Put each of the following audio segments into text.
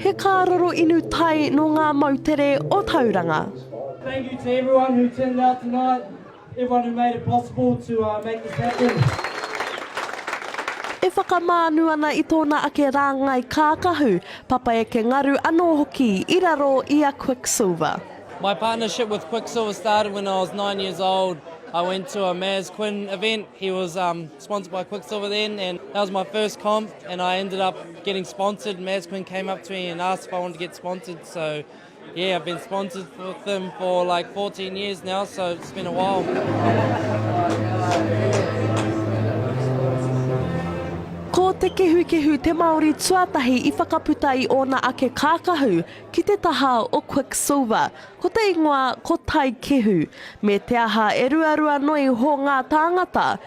He kāroro inu tai nō ngā moutere o Tauranga. Thank you to everyone who turned out tonight, everyone who made it possible to make this happen. E whakamānu ana i tōna ake rāngai kākahu, Papa Eke Ngaru anō hoki i raro i a Quicksilver. My partnership with Quicksilver started when I was nine years old, I went to a Maz Quinn event, he was sponsored by Quiksilver then, and that was my first comp, and I ended up getting sponsored. Maz Quinn came up to me and asked if I wanted to get sponsored, so yeah, I've been sponsored with them for like 14 years now, so it's been a while. Ko Te Kehukehu te Māori tuatahi i whakaputa i ōna ake kākahu ki te taha o Quiksilver. Ko te ingoa ko Taikehu. Me te aha e ruarua noa iho ngā tāngata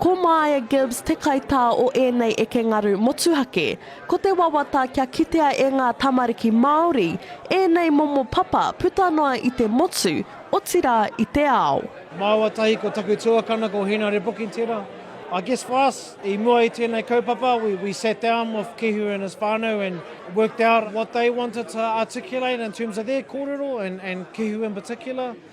Ko Maia Gibbs te kaitā o ēnei eke ngaru motuhake. Ko te wawata kia kitea e ngā tamariki Māori ēnei momo papa puta noa i te motu, otirā i te ao. Māua tahi ko taku tuakana ko Hēnare Pokitera. I guess for us, i mua i tēnei kaupapa, we we sat down with Kehu and his whānau and worked out what they wanted to articulate in terms of their kōrero and and Kehu in particular.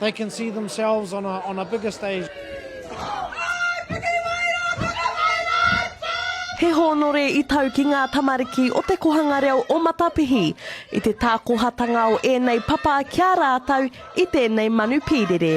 They can see themselves on a on a bigger stage. He hōnore i tau ki ngā tamariki o te kohanga reo o Matapihi i te tākohatanga o ēnei papa ki a rātou i tēnei manu pīrere.